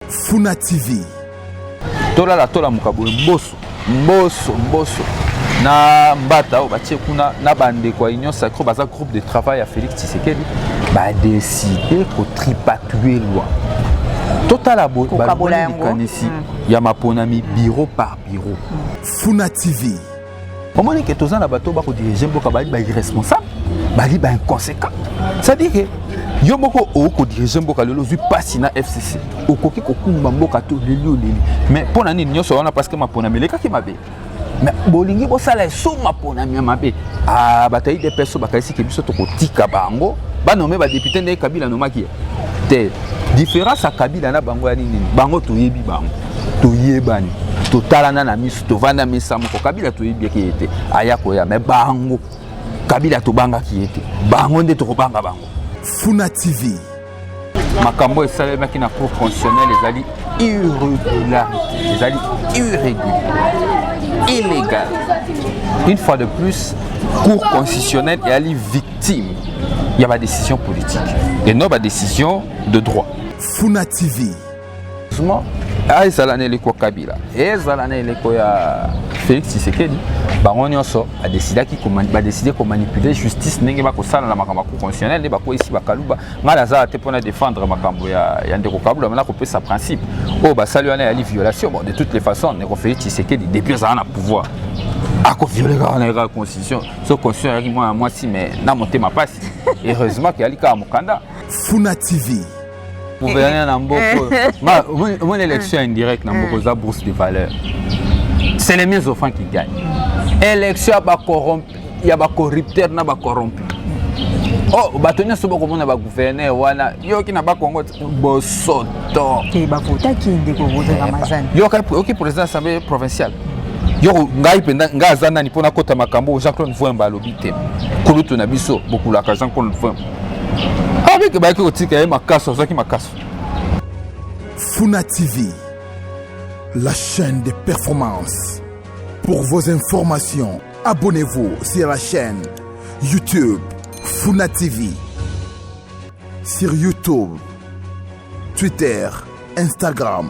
Funa TV. Tolala tolamuka boye mboso mboso mboso na mbata oyo batie kuna na bandeko ya union sacro baza groupe de travail ya félix tshisekedi badeside kotripatue lwa totala boyekanisi mm. ya maponami biro par biro mm. funa tv omoni ke toza na bato bako dirige mboka bali ba irresponsable bali ba inconséquent c'est-à-dire ke yo moko okoki kodirige mboka lelo ozwi mpasi na fcc okoki kokumba mboka te oleli oleli mais mpo na nini nyonso wana parceke maponami elekaki mabe mais bolingi bosala eso maponami ya mabe ah, bato ya idps oyo bakanisiki biso tokotika bango banome badepute ndenge kabila anomaki te différence ya kabila na bango ya nini bango toyebi bango toyebani totalana na miso tovanda mesa moko kabila toyebaki ye te aya koya me bango kabila tobangaki ye te bango nde tokobanga bango funa tv makambo oyo esalemaki na cour constitutionnel ezali irrégularité ezali irrégulier illégal une fois de plus cour constitutionnelle eyali victime ya badécision politique et non badécision de droit funa tv Suma ah, ezala na eleko ya Kabila, ezala na eleko ya Felix Tshisekedi, bango nyonso badesidaki badeside komanipule justice ndenge bakosala na makambo ya constitutionnel nde bakweyisi bakaluba. Ngai nazala te mpo na defendre makambo ya, ya ndeko Kaluba, mais nakopesa principe oyo oh, basali wana yali violation. Bon, de toutes les façons, ndeko Felix Tshisekedi depuis azala na pouvoir akoviole kaka na yekaka constitution so constitution ayaki mwana mwasi mais na motema mpasi heureusement ke yali kaka mokanda funa tv gouverneur na mboka oyo omoni élection indirecte na mboka oza bourse de valeur c'est les mieux offrants qui gagne élection ya bacorrompu ya bacorrupteur na bacorrompu oh bato nyonso bakomona bagouverneur wana yoki na bakongo bosoto bavotaki ndeko votaka mazani yoki président assemblée provinciale yo ngai mpenza ngai aza nani mpo nakota makambo oyo jean claude voemba alobi te kulutu na biso bokulaka jean claude voemba Avec bayaki kotika ye makaso azwaki makaso. Funa TV, la chaîne des performances. Pour vos informations, abonnez-vous sur la chaîne YouTube Funa TV. Sur YouTube, Twitter, Instagram.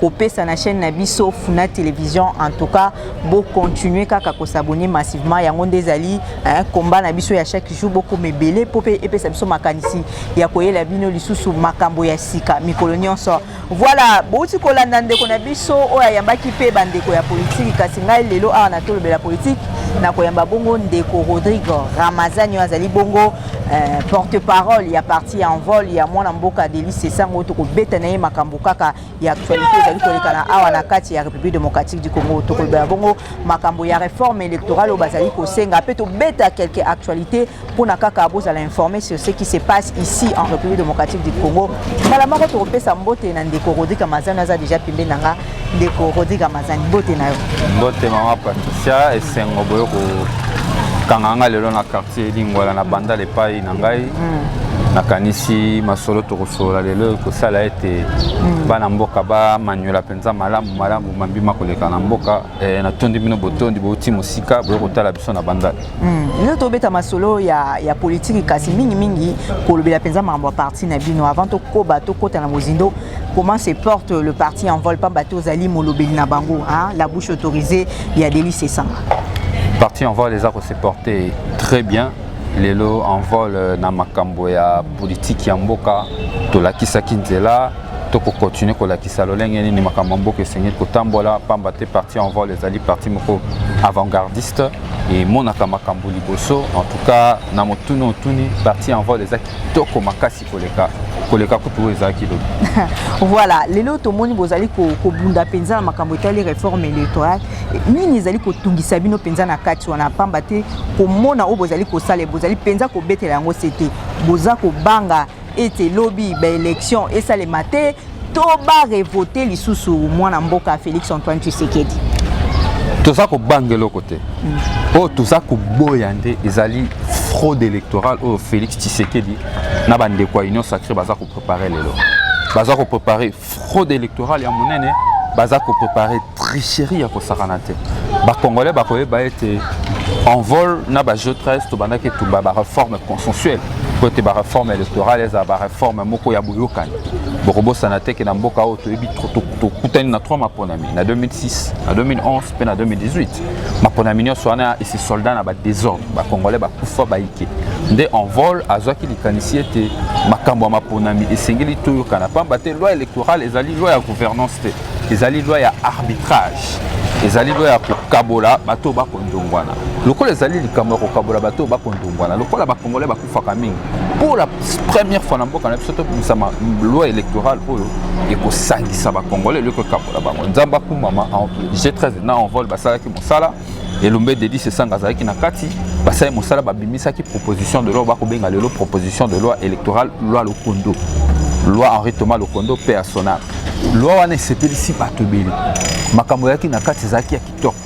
kopesa na chaîne na biso Funa Television. En tout cas, bo continuer kaka ko s'abonner massivement. Yango nde ezali hein, combat na biso ya chaque jour boko mebele po pe epesa biso makanisi ya koyela bino lisusu makambo ya sika mikolo nyonso. Voilà, bouti kolanda ndeko na biso oyo ayambaki pe bandeko ya politiki kasi ngai lelo awa na tolobela politiki na koyamba bongo ndeko Rodrigue Ramazani oyo azali bongo eh, porte-parole ya parti ya envol ya mwana mboka Delice Sango tokobeta na ye makambo kaka ya actualité ezali kolekana awa na kati ya république démocratique du congo tokolobela bongo makambo ya réforme électorale oyo bazali kosenga mpe tobeta quelque actualité mpona kaka bozala informe sur ce qui se passe ici en république démocratique du congo mbala moko tokopesa mbote na ndeko rodrik amazani aza déjà pembeni na nga ndeko rodrik amazani mbote na yo mbote mama patricia esengo boyo kokanga nga lelo na quartier lingwala na bandal epai na ngai mm. nakanisi masolo tokosolola lelo ekosala ete mm. bana mboka bamanyola mpenza malamu malamu mambi makoleka na mboka e, natondi bino botondi bouti mosika boye kotala biso na bandaki mm. lelo tobeta masolo ya, ya politiki kasi mingimingi kolobela mpenza makambo ya parti na bino avant tokoba tokɔta na mozindo comment se porte le parti en vol pamba te ozali molobeli na bango hein? la bouche autorisée ya delis esanga parti en vol eza kose porte très bien lelo envol na makambo ya politiki ya mboka tolakisaki nzela tokokontinue kolakisa lolenge nini makambo ya mboka esengeli kotambola mpamba te parti envol ezali parti moko avant-gardiste emonaka makambo liboso en tout cas na motuna otuni parti envol eza kitoko makasi koleka koleka kutu oyo ezalaki lobi voilà lelo tomoni bozali kobunda mpenza na makambo etali réforme électorale nini ezali kotungisa bino mpenza na kati wana mpamba te komona oyo bozali kosala bozali mpenza kobetela yango se te boza kobanga ete lobi baélection esalema te To ba revoter lisusu mwana mboka Felix Antoine Tshisekedi. Toza kobanga eloko te. Mm. Oyo toza koboya nde ezali fraude électorale oyo Felix Tshisekedi na bandeko ya Union Sacrée baza koprepare lelo. Baza koprepare fraude électorale ya monene baza koprepare tricherie ya kosakana te bakongolais bakoyeba ete envol na bajeu 13 tobandaki etumba bareforme consensuelle mpo ete bareforme électorale ezala bareforme moko ya boyokani bokobosana te ke na mboka oyo toyebi tokutani na 3 maponami na 2006 na 2011 mpe na 2018 maponami nyonso wana esi soldat na badesordre bacongolais bakufa baike nde envol azwaki likanisi ete makambo ya maponami esengeli toyokana mpamba te loi électorale ezali loi ya gouvernance te ezali loi ya arbitrage ezali loi ya kokabola bato oyo bakondongwana lokola ezali likambo ya kokabola bato oyo bakondongwana lokola bacongolais faka mingi pour la première fois na mboka na biso tobimisa loi électorale oyo ekosangisa bacongolais eloko ekabola bango nzambe akumama g13 na envol basalaki mosala elombe dedis esanga azalaki na kati basali mosala babimisaki proposition de loi bakobenga lelo proposition de loi électorale loi lokondo loi henri thomas lokondo mpe ya sonal loi wana esepelisi bato ebele makambo eyaki na kati ezalaki ya kitoko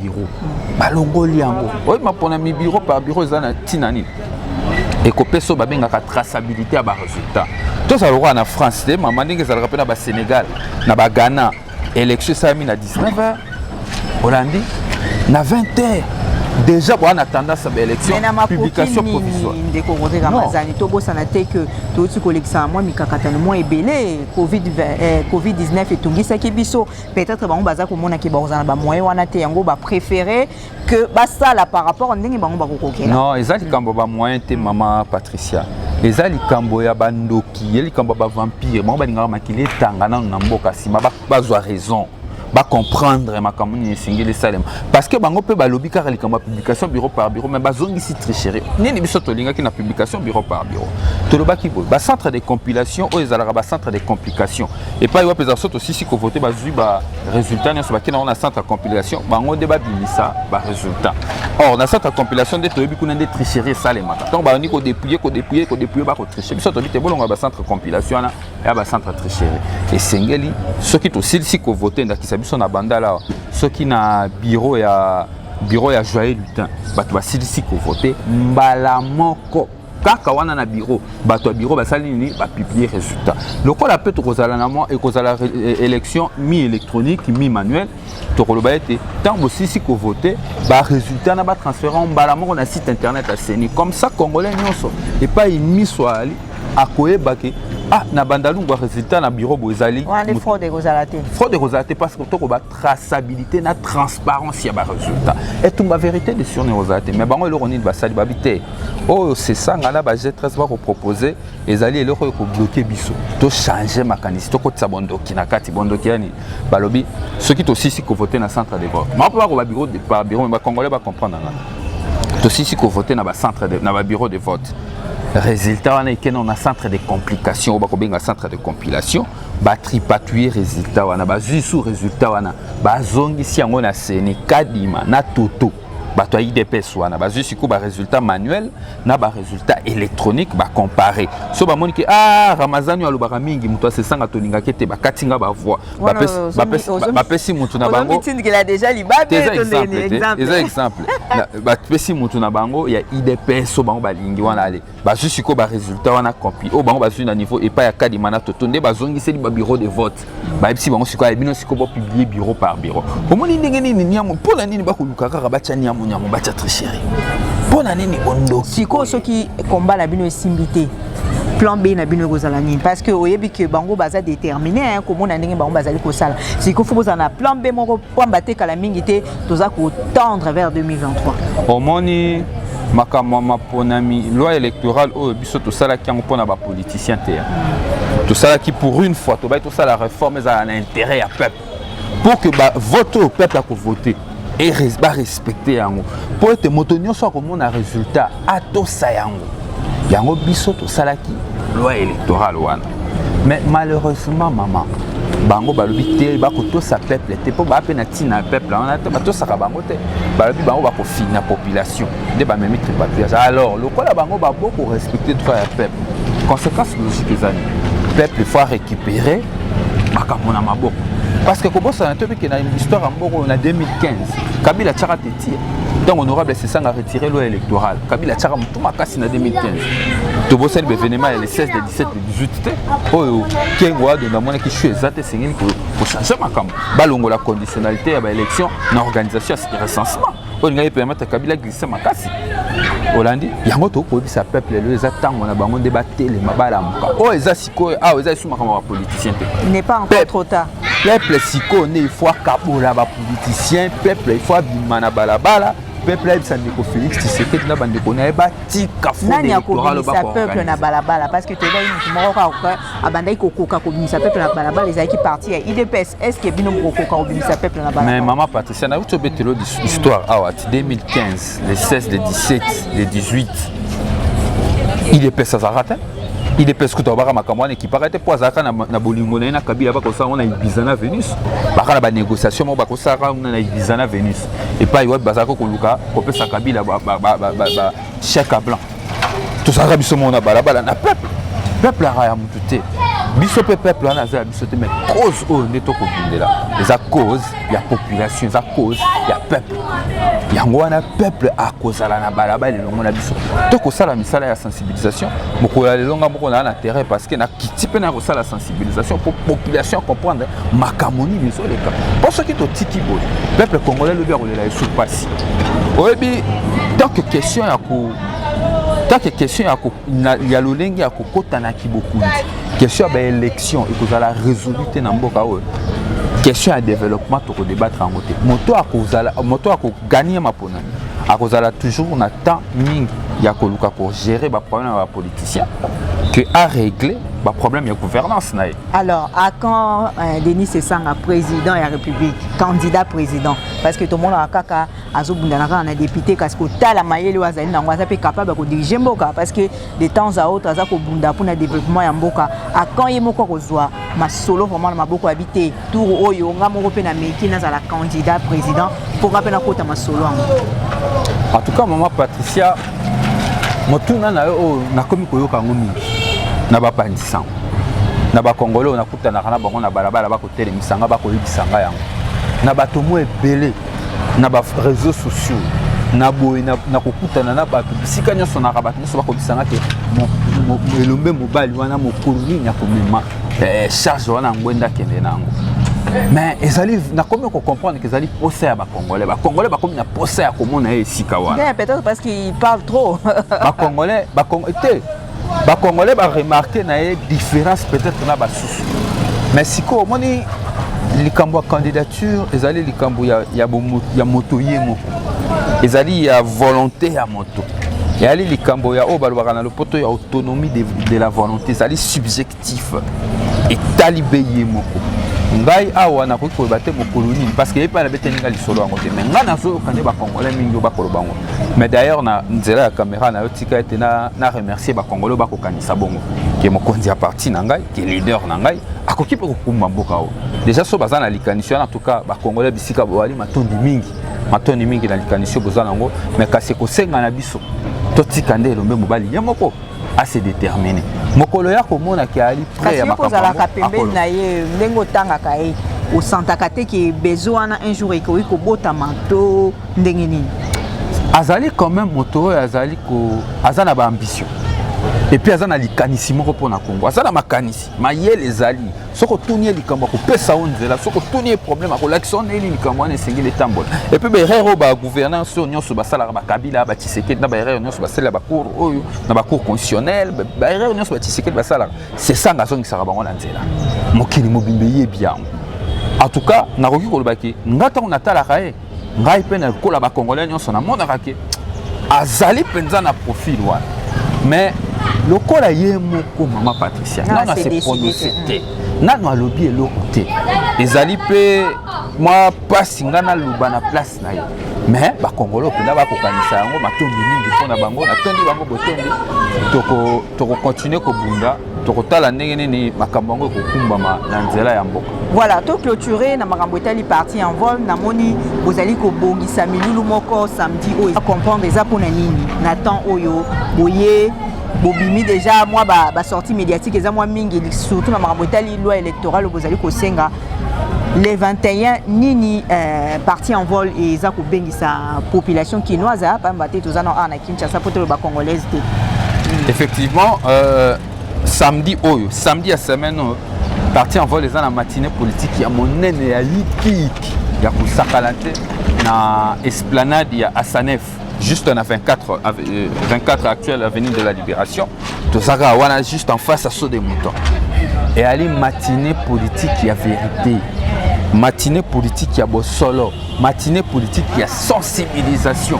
biro balongoli yango oyi maponami biro par biro eza na ntina nini ekopesa oyo babengaka traçabilité ya baresultat tozala lokola na france te mama ndenge ezalaka mpe na basénégal na baghana élection esalami na 19 heures olandi na 20 heures déjà boa na tendance ya élection publication provisoire ndeko roger ramazani tobosana te que touti kolekisaka mwa mikakatano mwa ebele covid 19 eh, etungisaki biso peut-être bango baza komona ke bakozala na bamoyen wana te yango bapréféré que basala par rapport a ndenge bango bakokokela non eza likambo bamoyen te mama patricia eza likambo ya bandoki ye likambo ya bavampire bango balingaka makili etanga nano na mboka nsima bazwa raison bacomprendre makambo nini esengeli esalema parce que bango mpe balobi kaka likambo ya publication bureau par bureau mais bazongisi tricherie nini biso tolingaki na publication bureau par bureau tolobaki boye bacentre de compilation oyo ezalaka bacentre de complication epai wapi eza so tosisi kovote bazwi ba résultat nyonso bakei nango na centre ya compilation bango nde babimisa ba résultat or na centre ya compilation nde toyebi kuna nde tricherie esalemaka ntango babandi kodepouye kodepouye kodepouye bakotriche biso toyebi te bolongola bacentre compilation wana ya bacentre tricherie esengeli soki tosilisi kovote ndakisa biso na bandala awa soki na bureau ya bureau ya joyeux lutin bato basilisi kovote mbala moko kaka wana na biro bato ya biro basali nini bapublie résultat lokola mpe tokozala na mwa ekozala élection mi électronique mi manuel tokoloba ete ntango bosisi kovote barésultat na batransfere yango mbala moko na site internet ya ceni comme ça congolais nyonso epai miso ali akoyeba ke ah na bandalungwa résultat na biro boezali fraude ekozala te parce que tokoba traçabilité na transparence ya baresultat etumba vérité de sur neoza te mais bango eloko nini basali babi te oyo sesanga na bajetres bakopropose ezali eloko oyo ekobloke biso tochange makanisi tokotisa bondoki na kati bondoki ya nini balobi soki tosisi kovote na centre de vote mako bako babiro babiro me bacongolais bacomprendre nga tosisi kovote na bacentre na babiro de vote résultat wana ekende na centre de complication oyo bakobenga centre de compilation batripatouille résultat wana bazwi su résultat wana bazongisi yango na seni kadima na toto bato ya idps wana bazwi sikoyo baresultat manuel na baresultat électronique bacompare so bamoni ke ah ramazani alobaka mingi moto asesanga tolingaki ete bakati nga bavoi bapesi motu na bango eza exemple bapesi motu na bango ya idps so bango balingi wana ale bazwi sikoyo baresultat wana compi oyo bango bazwi na niveau epai ya kadima na toto nde bazongiseli babureau de vote bayebisi bango sikoyo ya bino sikoyo bopiblie bureau par bureau omoni ndenge nini niamu mpo na nini bakoluka kaka batya niamu niamu batya tricherie mpo na nini ondoki sikoyo soki komba na bino esimbi te plan B na bino ekozala nini parce que oyebi que bango baza déterminé hein komona ndenge bango bazali kosala sikoyo faut bozala na plan B moko pamba te kala mingi te toza kotendre vers 2023 omoni makambo ya maponami loi électorale oyo biso tosalaki yango mpo na bapoliticien te tosalaki pour une fois tobaki tosala réforme ezala na intérêt ya peuple pour que bavote oyo peuple akovote barespecte yango mpo ete moto nyonso akomona résultat atosa yango yango biso tosalaki loi électorale wana mais malheureusement maman bango balobi te bakotosa peuple te mpo baa mpe na ntina ya peuple wana te batosaka bango te balobi bango bakofina population nde bamemi tripapillage alors lokola bango babo korespecte droit ya peuple conséquence logique eza nini peuple faut récupérer makambo na maboko parce que kobosana to bikenda histoire ya mboko na 2015 kabila atyaka te ntango honorable sesanga retire loi électorale kabila atyaka motu makasi na 2015 tobosani baevenema ya le 16 le 17 le 18 te oyo kengo ado namonaki shu eza te esengeli kochange makambo balongola conditionnalité ya baélection na organisation ya recensement oyo lingai permettre kabila glisse makasi olandi yango tokoki koyebisa peuple lelo eza ntango na bango nde batelema balamuka oyo eza sikoyo awa eza esu makambo ya bapoliticien te Peuple sikoyo nde il faut akabola ba politiciens, peuple il faut abima na balabala, peuple ayebisa ndeko Felix Tshisekedi na bandeko na ye batika fraude nani électorale akobimisa peuple na bakoorganize. balabala parce que toyebaki moto moko kaka abandaki kokoka kobimisa peuple na balabala ezalaki parti ya idps est ce que bino bokokoka kobimisa peuple na Mais balabala maman Patricia, nakuti obetelo histoire awa ti 2015. les 16 les 17 les 18 idps azalaka te idps kutu abaka makambo wana ekipaka te mpo azalaka na bolingo na ye na kabila bakosala ngo na ibiza na venus baka na banégociation moko bakosalaka ngo na ibiza na venus epai wapi bazalaki koluka kopesa kabila chèque à blanc tozalaka biso moko na balabala na peuple peuple aka ya motu te biso mpe peuple wana aza ya biso te mais cause oyo nde tokobundela eza cause ya population eza cause ya peuple yango wana peuple akozala na balabala elongo na biso tokosala misala ya sensibilisation mokolo ya lelo nga moko naa na terrain parce que nakiti mpe nakosala sensibilisation mpo population ya comprendre makambo nini ezoleka mpo soki totiki boye peuple congolais lobi akolela esu mpasi oyebi tanke question ya ko tanke question ya, ko, na, ya lolenge ya kokota na kibokundi question ya baélection ekozala résolu te na mboka oyo question ya développement tokodebattre yango te moto akozala moto akoganie maponami akozala toujours na temps mingi ya koluka kogérer baproblème ya bapoliticien que a régler ba problème ya gouvernance na ye alors à quand euh, denis sesanga président ya république candidat président parce que tomonaka kaka azobundana kaka na député kasi kotala mayele oyo azali nango aza mpe capable ya kodirige mboka parce que de temps à autre aza kobunda mpona développement ya mboka à quand ye moko akozwa masolo vraiment na maboko ya bi te tour oyo nga moko mpe nameki nazala candidat président mpo nga mpe nakota masolo yango en tout cas mama patricia motuna na yo oyo oh, nakomi koyoka yango mingi na bapanzi sango na bakongole oyo nakutanaka na bango na balabala bakotelemisa nga bakoyebisa nga yango na bato mwa ebele na bareseau sociaux na boye na kokutana na bato bisika nyonso naka bato nyonso bakobisa nga te elombe mobali wana mokolo nini akomema eh, charge wana yango enda kende na yango mais ezali nakomi kocomprendre ke ezali posa ya bacongolais bacongolais bakomi na posa ya komona ye esika wana peut-être parce qu'il parle trop bacongolais te bacongolais baremarke na ye différence peut-être na basusu mais sikoyo omoni likambo ya candidature ezali likambo ya, ya, ya moto ye moko ezali ya volonté ya moto eyali likambo ya oyo balobaka na lopoto ya autonomie de, de la volonté ezali subjectif etali be ye moko ngai awa nakoki koyeba te mokolo nini parce que epai na beteli ngai lisolo yango te mai ngai nazoyoka nde bacongolais mingi oyo bakoloba yango mais d'ailleurs na nzela ya caméra nayo tika ete na, na remercier bacongolais oyo bakokanisa bongo ke mokonzi ya parti na ngai ke leader na ngai akoki mpe kokumba mboka oyo deja so baza na likanisi wana en tout cas bacongolais bisika bowali matondi mingi matondi mingi na likanisi oyo boza nango me kasi ekosenga na biso totika nde elombe mobali ye moko ase détermine mokolo ya komona ke ali près ya makambo ozalaka pembeni na ye ndenge otangaka ye osantaka te ke besoin wana un jour ekoki kobotama to ndenge nini azali quand même moto oyo azali ko aza na baambition epuis aza na likanisi moko mpo na kongo aza na makanisi mayele ezali soki otuni ye likambo akopesa yo nzela soki otuni ye problème akolakisa yo ndenge nini likambo wana esengeli etambola epui baerreur oyo bagouvernance oyo nyonso basalaka bakabila bachisekedi na baerreur nyonso basalela bacour oyo na bacour constitutionnel baerreur nyonso bachisekedi basalaka sesanga azongisaka bango na nzela mokili mobimba eyebi yango en tout cas nakoki kolobaki nga ntango natalaka ye ngai mpe na kola ba congolais nyonso namonaka ke azali mpenza na profil wana mais lokola ye moko mama patricia nano ase prononce te nano alobi eloko te ezali mpe mwa mpasi ngai naloba na place na ye mais bakongolo mpenza bakokanisa yango matondi mingi mpo na bango natondi bango botondi tokokontinue kobunda tokotala ndenge nini makambo yango ekokumbama na nzela ya mboka voilà to clôture na makambo etali parti en vol namoni bozali kobongisa milulu moko samedi oyo eza comprendre eza mpona nini na temps oyo boye bobimi déjà mwa basortie ba médiatique eza mwa mingi surtout na makambo etali loi électorale bozali kosenga le 21 nini euh, parti en vol eza kobengisa population kinoise pamba te toza na Kinshasa poto ba congolaise te. Hmm. Effectivement euh, samedi oyo, samedi ya semaine oyo parti en vol eza na matinée politique ya monene ya yikiyiki ya kosakana te na esplanade ya Asanef juste na 24 24 euh, actuelle avenue de la Libération. tozaka wana juste en face ya saut de mouton eyali matinée politique ya vérité matinée politique ya bosolo matinée politique ya sensibilisation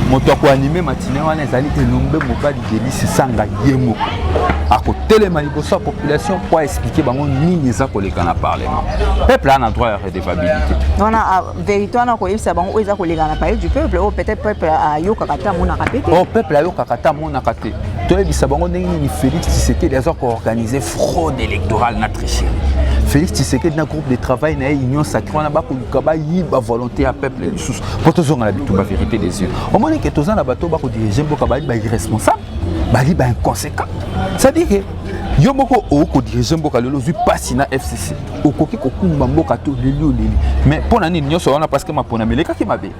moto ya koanime matine wana ezali elombe mobali delisi sanga ye moko akotelema liboso ya population mpo aexplike bango nini eza koleka na parlement peuple ana droit ya redevabilité verité wana koyebisa bango oyo eza koleka na palais du peuple oyo peut-être peuple ayokaka te amonaka mpe te oyo oh, peuple ayokaka te amonaka te toyebisa bango ndenge nini félix tshisekedi aza koorganize fraude électorale na tricherie félix tshisekedi na groupe de travail na ye union sacré wana bakoluka bayiba volonté ya peuple lisusu mpo tozonga na bitumba vérité des yeux omoni ke toza na bato bakodirige mboka bali ba irresponsable bali ba inconséquent c'est-à-dire ke yo moko okodirige mboka lelo ozwi mpasi na fcc okoki kokumba mboka to oleli oleli mais mpo na nini nyonso wana parceke maponami elekaki mabe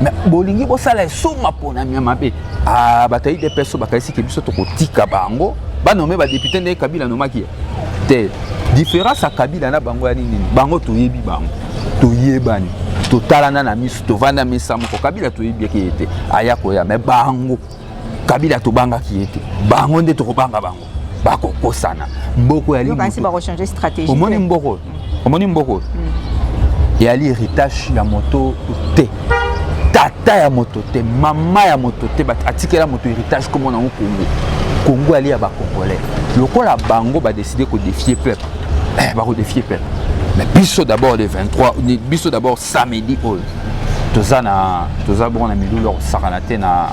mais bolingi bosala eso maponami ya mabe ah, bato ya idps bakaisiki biso tokotika bango banome badepute ndenge kabila anomaki ye te différence ya kabila na bango ya nini bango toyebi bango toyebani totalana na miso tovanda mesa moko kabila toyebi yaki ye te aya koya me bango kabila tobangaki ye te bango nde tokobanga bango bakokosana mboko yali omoni mboko oyo omoni mboko oyo hmm. eyali héritage ya moto te tata ya moto te mama ya moto te atikela moto héritage komo nango kongo kongo yali ya bacongolais lokola bango badeside kodefie peuple eh, bakodefie peuple mais biso d'abord le 23 biso d'abord samedi oyo toza na toza bongo na milulu ya kosakana te na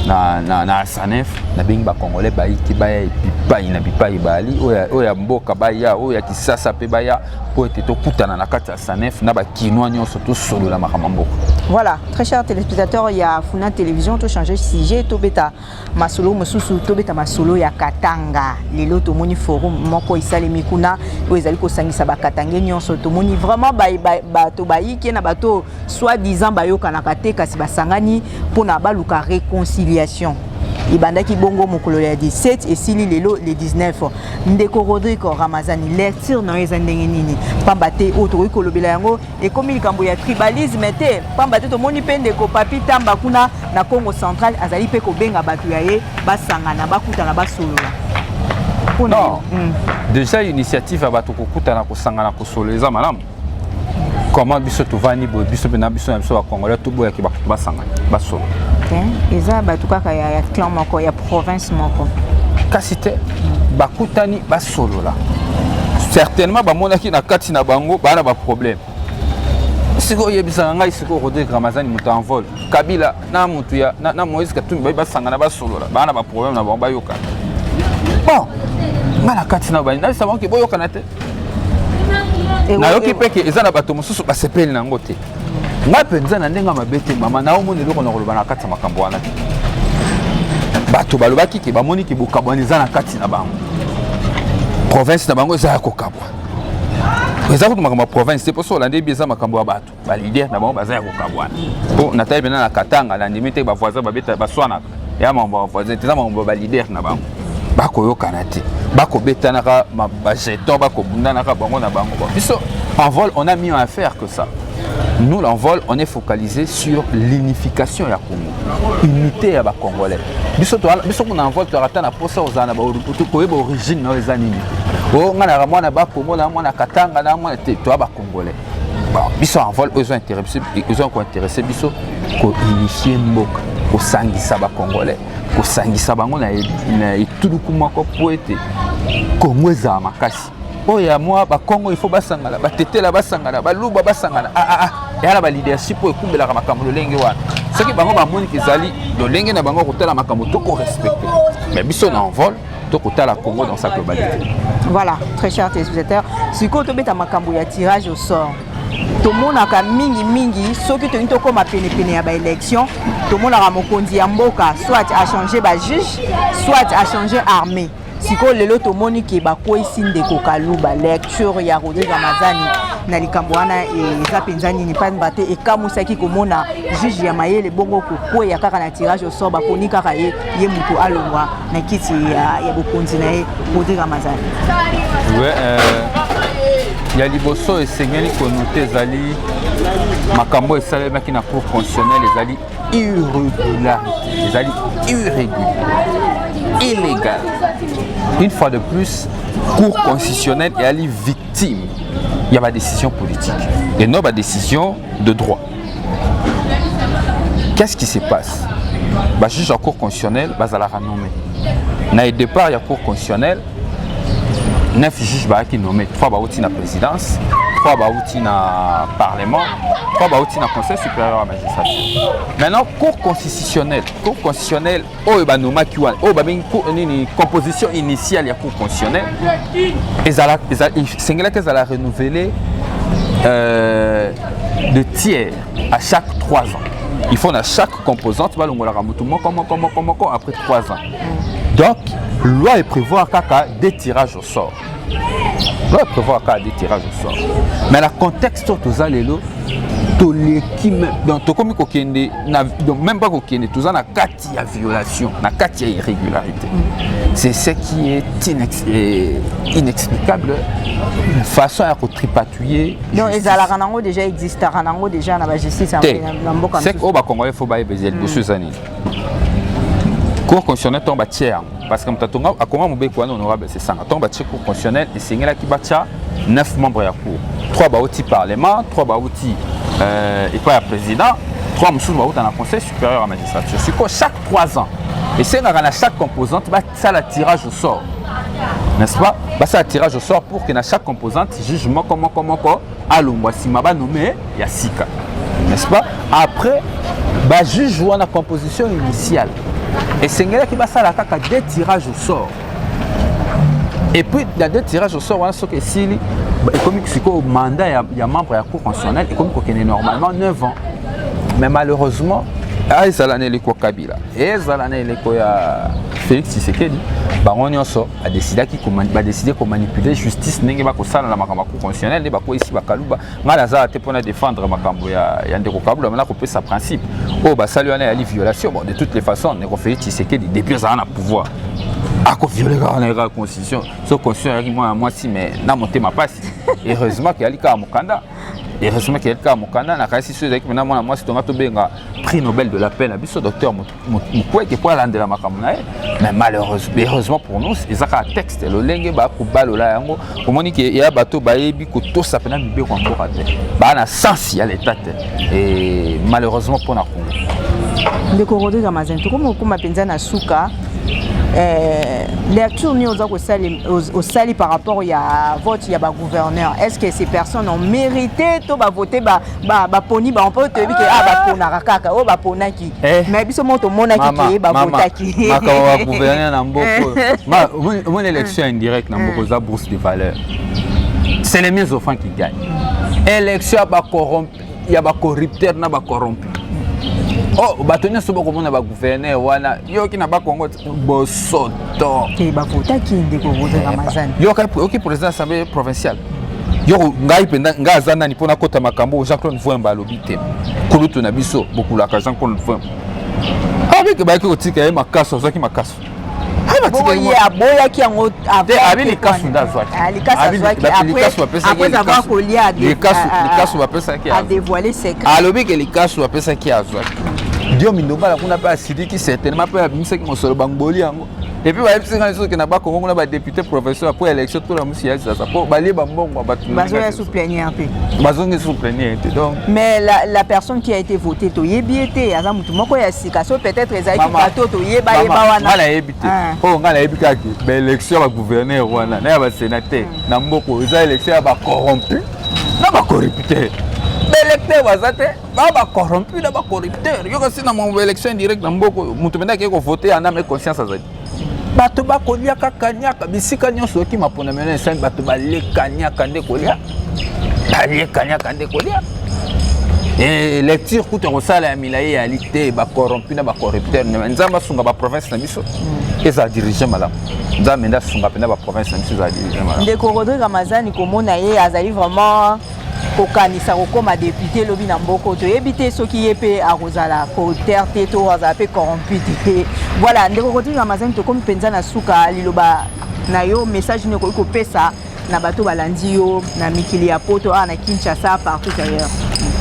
na, na, na sanef nabengi bakongole bayiki baya bipai na bipai baali oyo ya mboka baya oyo ya kisasa mpe baya mpo ete tokutana na kati ya sanef na bakinois nyonso tosolola makambo ya mboka voilà très cher téléspectateur ya funa télévision tochange sujet tobeta masolo mosusu tobeta masolo ya katanga lelo tomoni forum moko esalemi kuna oyo ezali kosangisa bakatange nyonso tomoni vraiment bato bayike na bato soit disant bayokanaka te kasi basangani mpona baluka réconciliation ebandaki bongo mokolo ya 17 esili lelo le 19 ndeko rodrigo ramazani lecture na yo eza ndenge nini mpamba te oyo tokoki kolobela yango ekomi likambo ya tribalisme te pamba te tomoni mpe ndeko papi tamba kuna na congo central azali mpe kobenga bato ya ye basangana bakutana basolola non mm. déjà initiative ya bato kokutana kosangana kosolola eza malamu comment biso tovandi boye biso mpe na biso na biso bacongolais toboyaki bakutu basangana basolo eza bato kaka ya clan moko ya province moko kasi te bakutani basolola certainement bamonaki na kati na bango baa na baproblème sikoyo oyebisaka ngai sikoyo rodrigue ramazani moto ya envol kabila na moto ya na, na moïse katumbi baye basangana basolola baa na baproblème na bango bayokana bon ngai na kati na bani nabisa bango ke boyokana te nayoki mpe ke eza na bato mosusu basepeli na yango te ngai mpenza na ndenge ya mabe te mama naomona eloko na koloba na kati ya makambo wana te bato balobaki ke bamoni ke bokabwana eza na kati na bango province na bango eza ya kokabwa eza kutu makambo ya province te mposo olandi ebi eza makambo ya bato balider na bango baza ya kokabwana mpo natali mpena na katanga nandimi te bavoisin baswanaka ya makambo ya voisin te eza makambo ya balider na bango bakoyokana te bakobetanaka bajeton bakobundanaka bango na bango biso en vol on a mis en affaire que ça nous l'envol on est focalisé sur l'unification ya congo unité ya bacongolais biso biso kuna envol tozalaka ata na mposa ozala na koyeba origine na yo eza nini o ngai naka mwana bakongo na mwana katanga na mwana te toya bacongolais biso envol oyo ezo interesse ezo kointeresse biso kounifier mboka kosangisa bacongolais kosangisa bango na e, etuluku moko mpo ete kongo ezala makasi oyo ya mwa bakongo ifo basangana batetela basangana baluba basangana aa ah, ah, ah. eya na baleadership oyo ekumbelaka makambo lolenge wana soki bango bamoniki ezali lolenge na bango kotala makambo tokorespecte mais biso na envol to kotala congo dans sa globalité voilà très cher téléspectateur sikoyo tobeta makambo ya tirage au sort tomonaka mingimingi soki tolingi tokóma penepene ya baélection tomonaka mokonzi ya mboka soit achange bajuge soit achange armée sikoyo lelo tomoni ke bakweyisi ndeko kaluba lecture ya rodrigue amazani na likambo wana eza mpenza nini mpamba te ekamwisaki komona juge ya mayele bongo kokweya kaka na tirage osor bakoni kaka ye ye moto alongwa na kiti ya, ya bokonzi na ye Rodrigue Ramazani ouais, euh, ya liboso esengeli konote ezali makambo esalemaki na cour constitutionnelle ezali irrégularité ezali irrégulier illégal une fois de plus cour constitutionnelle eyali victime ya badécision politique et non badécision de droit qu'est-ce qui se passe bajuge ya cour constitutionnelle bazalaka nommé na départ ya cour constitutionnelle 9 juge bayaki nommé 3 bauti na présidence 3 bauti na parlement 3 bauti na conseil supérieur ya magistrature maintenant cour constitutionnelle cour constitutionnelle oyo banomaki wana oyo babengi nini composition initiale ya cour constitutionnelle ezala esengelaki ezala renouvelé euh, de tiers à chaque 3 ans il faut na chaque composante balongolaka motu moko moko moko moko après 3 ans donc loi eprévoir kaka de tirage au sort va prévoir kaka de tirage au sort mais na contexte oyo toza lelo toleki donc tokomi kokende donc même pas kokende toza na kati ya violation na kati ya irrégularité c'est ce qui est inex inexplicable façon ya kotripatouiller donc ezalaka nango déjà existaka nango déjà na bajustice na mboka te oyo bacongolais fo bayeba eza liboso eza nini cour constitutionnel ntango batie yango parce que moto atonga akonga mobeko wana honorable sesanga ntongo batie cour constitutionnel esengelaki batya 9 membre ya cour 3 bauti parlement 3 bauti euh, epai ya président 3 mosusu bauta na conseil supérieur ya magistrature sikoyo chaque 3 ans esengaka na chaque composante basala tirage au sort n'est-ce pas basala tirage au sort pour que na chaque composante juge moko moko moko alongwa nsima banome ya sika n'est-ce pas après bajuge wana composition initiale esengelaki basala kaka deux tirage au sort et puis na deux tirage au sort wana soki esili ekomi sikoyo mandat ya, ya membre ya cour constitutionnelle ekomi kokende normalement 9 ans mais malheureusement ah, ezala na eleko kabila ezala na eleko ya félix tshisekedi bango nyonso badesidaki badeside komanipule justice ndenge bakosala na makambo ya constitutionnel nde bakweyisi bakaluba ngai nazala te mpo na défendre makambo ya, ya ndeko kaluba mana kopesa principe oyo oh, basali wana yali violation bon de toutes les façons ndeko félix tshisekedi depuis azala na pouvoir akoviole kaka na yekaka constitution so constitution ayaki mwana mwasi mais na motema mpasi heureusement keyali kaka mokanda heureusement keyali kaka mokanda nakanisi so ezalaki mena mwana mwasi tonga tobenga prix nobel de la paix na biso docteur moto mukwege mpo alandela makambo na ye mais malheureusement pour nous eza kaka texte lolenge bakobalola yango omoni ke ya bato bayebi kotosa mpena mibeko ya mboka te baa na sense ya leta te e malheureusement mpo na congo ndeko rodrigue amazin tokomi kokoma mpenza na suka eh, lecture nini oza kosali osali par rapport ya vote ya bagouverneur est ce que ces personnes ont mérité to bavote ba ba baponi bango mpo toyebi ke a ah, baponaka kaka oyo baponaki eh. mais biso moko tomonaki ke babotaki makambo ya gouverneur na mboko omoni élection indirecte na mboko oza bourse de valeur c'est les mieux offrant qui gagne élection ya bacorrompu ya bacorrupteur na bacorrompu oh bato nyonso bakomona bagouverneur wana yoki na bakongo bosoto te bavotaki ndeko roger ramazani yoka oki président assemblée provinciale yoko ngai mpenza ngai aza nani mpo nakota makambo jean claude vuemba alobi te kulutu na biso bokulaka jean claude vuemba abike bayaki kotika ye makaso azwaki makaso aboyaki yango abi likasu nde azwakilikasu bapesaki alobi ke likasu bapesaki azwaki dio mindongala kuna mpe Diki certainement mpe abimisaki mosolo bangboli yango epuis bayebisi ngai soki na bakongo kuna badepute professeur mpo élection tola mosi ya sasa mpo balie bambongo ya bato bazoya sous plenière te bazongi sous plenière te donc mais la, la personne qui a été votée toyebi ye te aza motu moko ya sika so peut-être ezalaki bato toyeba yeba wana ngai nayebi te ah. oyo ngai nayebi kaka baélection ya bagouverneur wana na ya basénateur hmm. na mboka eza élection ya bacorrompu na bacorrupteur baélecteur baza te ba ba corrompu na ba corrupteur yo kasi na mon élection indirecte na mboka oyo moto mende akei kovote ya name conscience azali bato bakolia kaka niaka bisika nyonso oyoki mapona meno esali bato baleka niaka nde kolia baleka niaka nde kolia eh, lecture kutu akosala ya milai eyali te bacorrompu na bacorrupteur nzambe asunga baprovince na biso mm. ezala dirige malamu nzambe nde asunga mpenza baprovince na biso ezala dirige malamu ndeko rodrigue amazani komona ye azali vraiment kokanisa kokoma depute lobi na mboko toyebi te soki ye mpe akozala corrupteur te to azala mpe corrompu te voilà ndeko kotinga mazani tokomi mpenza na suka liloba na yo message nini okoki kopesa na bato balandi yo na mikili ya poto awa na kinshasa partout ailleurs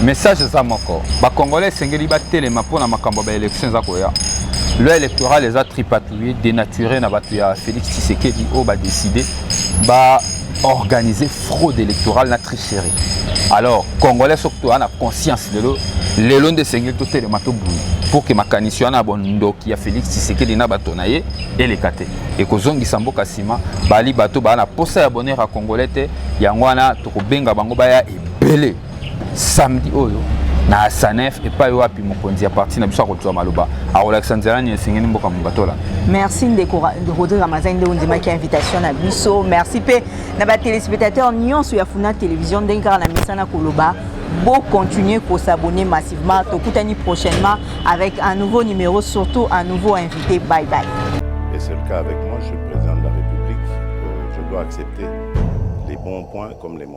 message eza moko bacongolais esengeli batelema mpo na makambo ya baélection eza koya loi électorale eza tripatouille dénaturé na bato ya félix tshisekedi oyo badécide ba organiser fraude électorale na tricherie alors congolais soki toya na conscience lelo lelo nde esengeli totelema tobunda pour que makanisi wana ya bondoki ya félix tshisekedi na bato na ye eleka te ekozongisa mboka nsima bali bato baa na mposa ya bonheur ya congolais te yango wana tokobenga bango baya ebele samedi oyo na asanef epai wapi mokonzi ya parti na biso akozwa maloba akolakisa nzela nini esengeli mboka mobatola merci ndeko rodrigue ramazani nde ondimaki invitation na biso merci mpe na batelespectateur nyonso ya funa télévision ndenge kaka na misana koloba beau continuer pour s'abonner massivement. Tokutani prochainement avec un nouveau numéro, surtout un nouveau invité. Bye bye. Et c'est le cas avec moi, je suis le président de la République. Euh, je dois accepter les bons points comme les mauvais.